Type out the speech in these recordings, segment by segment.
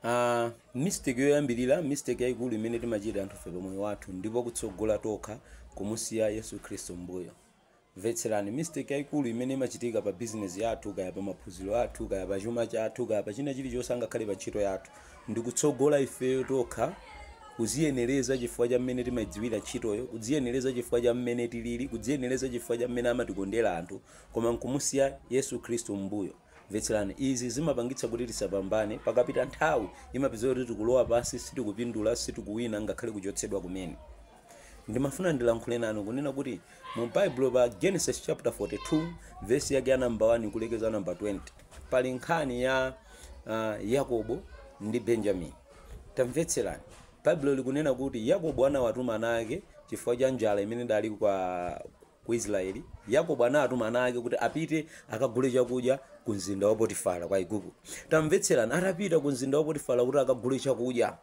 Ah, mistake yoyambirira mistake yayikulu imene timachita anthufe pa moyo wathu ndi po kutsogola tokha kumusiya yesu khristu mbuyo mvetserani mistake yayikulu imene imachitika pa bizinesi yathu kaya pa maphunziro athu kaya pa chuma chathu kaya pa china chilichonse angakhale pa ntchito yathu ndi kutsogola ifeyo tokha kuziyenereza chifukwa cha mmene timayidziwira ntchitoyo kudziyenereza chifukwa cha mmene tilili kudziyenereza chifukwa cha mmene amatikondera anthu koma nkumusiya yesu khristu mbuyo Mvetserani, izi zimapangitsa kuti tisapambane, pakapita nthawi, imapezeka kuti tikulowa pansi, sitikupindula, sitikuwina, ngakhale kuchotsedwa kumene. Ndimafuna ndilankhule nanu kunena kuti mu Baibulo pa Genesis chapter 42 verse yake ya number 1 kulekeza number 20 pali nkhani ya uh, Yakobo ndi Benjamin. Tamvetserani, Baibulo likunena kuti Yakobo anawatuma ana ake chifukwa cha njala imene idali kwa Ku Isiraeli, Yakobo anatuma ana ake kuti apite akagule chakudya kumzinda wa Potifara ku Aigupto. Tamvetserani, Atapita kumzinda wa Potifara kuti akagule chakudya,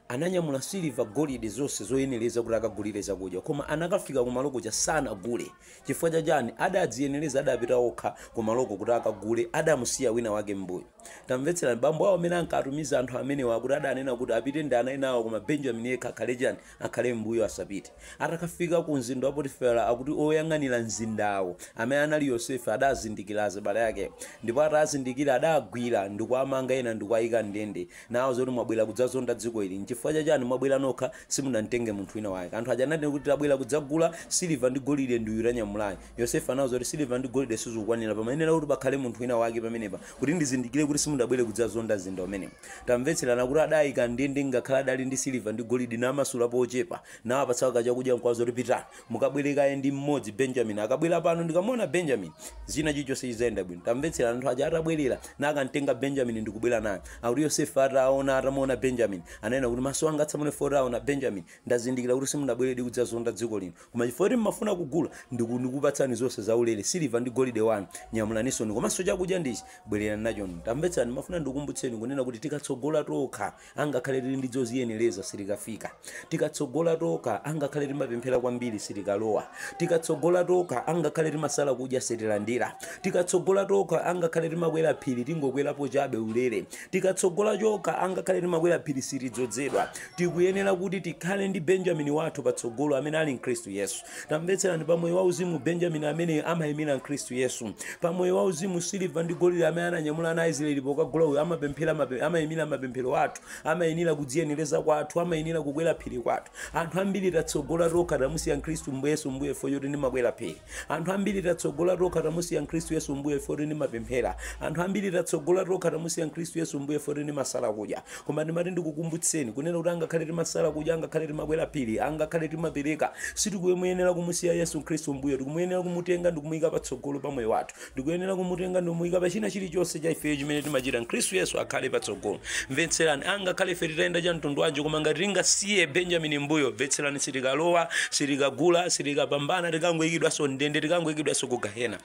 ananyamula siliva, golide, zonse zoyenereza kuti akagulire zakudya. Koma anakafika kumalo kuja sanagule. Chifukwa cha chani? Adadziyenereza, adapita okha kumalo kuja kuti akagule, adamusiya wina wake m'mbuyo. Tamvetserani, bambo awo amene ankatumiza anthu amenewa akuti adanena kuti apite ndi ana enawo koma Benjamini yekha akhale chani? akhale m'mbuyo asapite. Atakafika ku mzinda wa Potifera, akuti oyang'anira mzindawo, amene anali Yosefe, adazindikira azibale akewo. Ndipo atazindikira, adagwira ndi kuwamanga ena ndi kuwayika m'ndende, nawauza kuti, Mwabwera kudzazonda dziko ili. N'chifukwa cha chani mwabwera nokha, simudamtenge munthu wina wake? Anthu aja ananena kuti, Tabwera kudzagula siliva ndi golide ndi uyu tanyamulayu. Yosefe anawauza kuti, Siliva ndi golide sizikukwanira. Pamayenera kuti pakhale munthu wina wake pamenepa, kuti ndizindikire kuti simudabwere kudzazonda mzinda umenewu. Tamvetserani akuti adawaika m'ndende ngakhale adali ndi siliva ndi golidi, nawamasulapo ochepa, nawapatsako kachakudya n'kuwauza kuti, Pitani, mukabwere kaye ndi mmodzi, Benjamini. Akabwera pano, ndikamuona Benjamini, zina chilichonse chidzayenda bwino. Tamvetserani, anthu aja atabwerera, nakamtenga Benjamini ndi kubwera naye. Akuti Yosefe ataona, atamuona Benjamini, ananena kuti, Maso anga atsamwe ine poti aona Benjamini. Ndazindikira kuti simunabweredi kudzazonda dziko lino. Koma chifukwa choti mumafuna kugula, ndiku ndikupatsani zonse zaulere, siliva ndi golide wanu. Nyamulanisoni. Komanso chakudya ndi ichi, bwererani nachoni. Tamvetsani, ndimafuna ndikukumbutseni kunena kuti tikatsogola tokha, angakhale tili ndi zodziyenereza, sitikafika. Tikatsogola tokha, angakhale timapemphera kwambiri, sitikalowa. Tikatsogola tokha, angakhale timasala kudya, sitilandira. Tikatsogola tokha, angakhale timakwera phiri, tingokwerapo chabe ulere. Tikatsogola tokha, angakhale timakwera phiri, sitidzodzedwa. Tikuyenera kuti tikhale ndi Benjamini wathu patsogolo amene ali Khristu Yesu. Tamvetserani, pa moyo wauzimu Benjamini ameneyo amaimira Khristu Yesu. Pa moyo wauzimu siliva ndi golide amene ananyamula ana a Israeli pokagula uyu amapemphera mape, amaimira mapemphero athu, amayenera kudziyenereza kwathu, amayenera kukwera phiri kwathu. Anthu ambiri tatsogola tokha tamusiya Khristu Yesu mbuyo chifukwa choti ndimakwera phiri. Anthu ambiri tatsogola tokha tamusiya Khristu Yesu m'mbuyo ife oti timapemphera. Anthu ambiri tatsogola tokha tamusiya Khristu Yesu m'mbuyo ife oti timasala kudya. Koma ndimati ndikukumbutseni kunena kuti angakhale timasala kudya, angakhale timakwera phiri, angakhale timapereka, sitikumuyenera kumusiya Yesu Khristu m'mbuyo. Tikumuyenera kumutenga ndikumuika patsogolo pa moyo wathu. tikuyenera kumutenga ndimuyika pa china chilichonse cha ifeyo chimene timachita khristu yesu akhale patsogolo mvetserani angakhale ife titayenda cha mtundu wanji koma ngati tingasiye benjamini m'mbuyo mvetserani sitikalowa sitikagula sitikapambana tikangoyikidwanso m'ndende tikangoyikidwanso ku gahena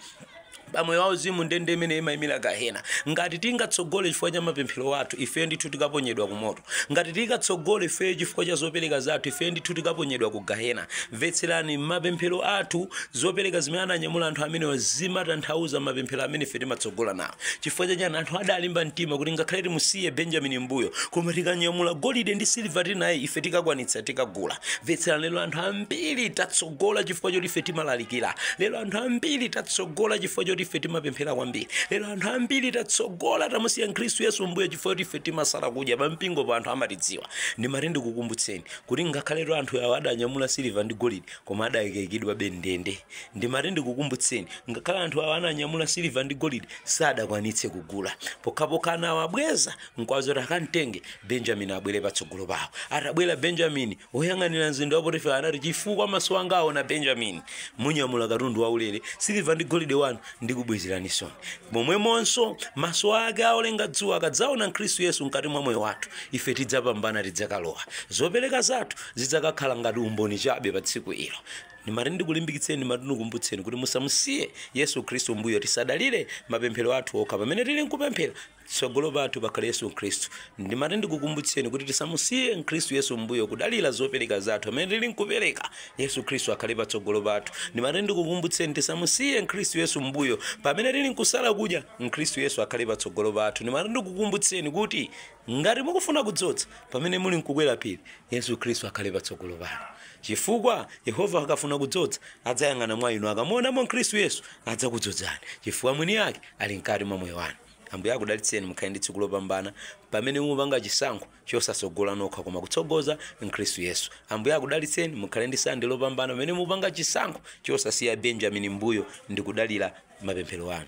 pamoyo wauzimu ndende imene imayimira gahena ngati tingatsogole chifukwa cha mapemphero athu ife ndithu tikaponyedwa ku moto Ngati tikatsogole ifeyo chifukwa cha zopereka zathu, ifeyo ndithu tikaponyedwa ku Gahena. Mvetserani, mapemphero athu, zopereka zimene ananyamula anthu amenewa zimatanthauza mapemphero amene ife timatsogola nawo. Chifukwa cha chani? Anthu adalimba mtima kuti ngakhale timusiye Benjamini m'mbuyo, koma tikanyamula golide ndi siliva tili naye, ife tikakwanitsa, tikagula. Mvetserani, lero anthu ambiri tatsogola chifukwa choti ife timalalikira. Lero anthu ambiri tatsogola chifukwa choti ife timapemphera kwambiri. Lero anthu ambiri tatsogola, tamusiya Khristu Yesu m'mbuyo. chifukwa choti ife timasala kudya pampingopo anthu amatidziwa ndimati ndikukumbutseni kuti ngakhaletu anthu awo adanyamula siliva ndi golide koma adakaikidwabe m'ndende ndimati ndikukumbutseni ngakhale anthu awo ananyamula siliva ndi golide sadakwanitse kugula pokhapokha anawabweza mkwazi kuti akamtenge benjamini abwere patsogolo pawo atabwera benjamini Woyang'anira mzinda wa Potifara anati, Chifukwa maso anga aona Benjamini, munyamula katundu waulere, siliva ndi golide wanu ndikubwezeraninsoni. Momwemonso, maso ake a olenga dzuwa akadzaona Khristu Yesu mkati mwa moyo wathu, ife tidzapambana, tidzakalowa. Zopereka zathu zidzakakhala ngati umboni chabe pa tsiku ilo. Ndimati ndikulimbikitseni, ndimati ndikumbutseni kuti musamusiye Yesu Khristu m'mbuyo. Tisadalire mapemphero athu okha pamene tili nkupemphera. Tsogolo pathu pakhale Yesu Khristu. Ndimati ndikukumbutseni kuti tisamusiye Khristu Yesu m'mbuyo kudalira zopereka zathu pamene tili nkupereka. Yesu Khristu akhale patsogolo pathu. Ndimati ndikukumbutseni tisamusiye Khristu Yesu m'mbuyo pamene tili nkusala kudya. Khristu Yesu akhale patsogolo pathu. Ndimati ndikukumbutseni kuti ngati mukufuna kudzodza pamene muli nkukwera phiri, Yesu Khristu akhale patsogolo panu. Chifukwa Yehova akafuna kudzodza, adzayang'ana mwa inu. Akamuonamo Khristu Yesu, adzakudzodzani chifukwa mwini ake ali mkati mwa moyo wanu. Ambuye akudalitseni, mukhale ndi tsiku lopambana pamene mupanga chisankho chosatsogola nokha koma kutsogoza Khristu Yesu. Ambuye akudalitseni, mukhale ndi Sande lopambana pamene mupanga chisankho chosasiya Benjamini m'mbuyo ndikudalira mapemphero anu.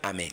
Amen.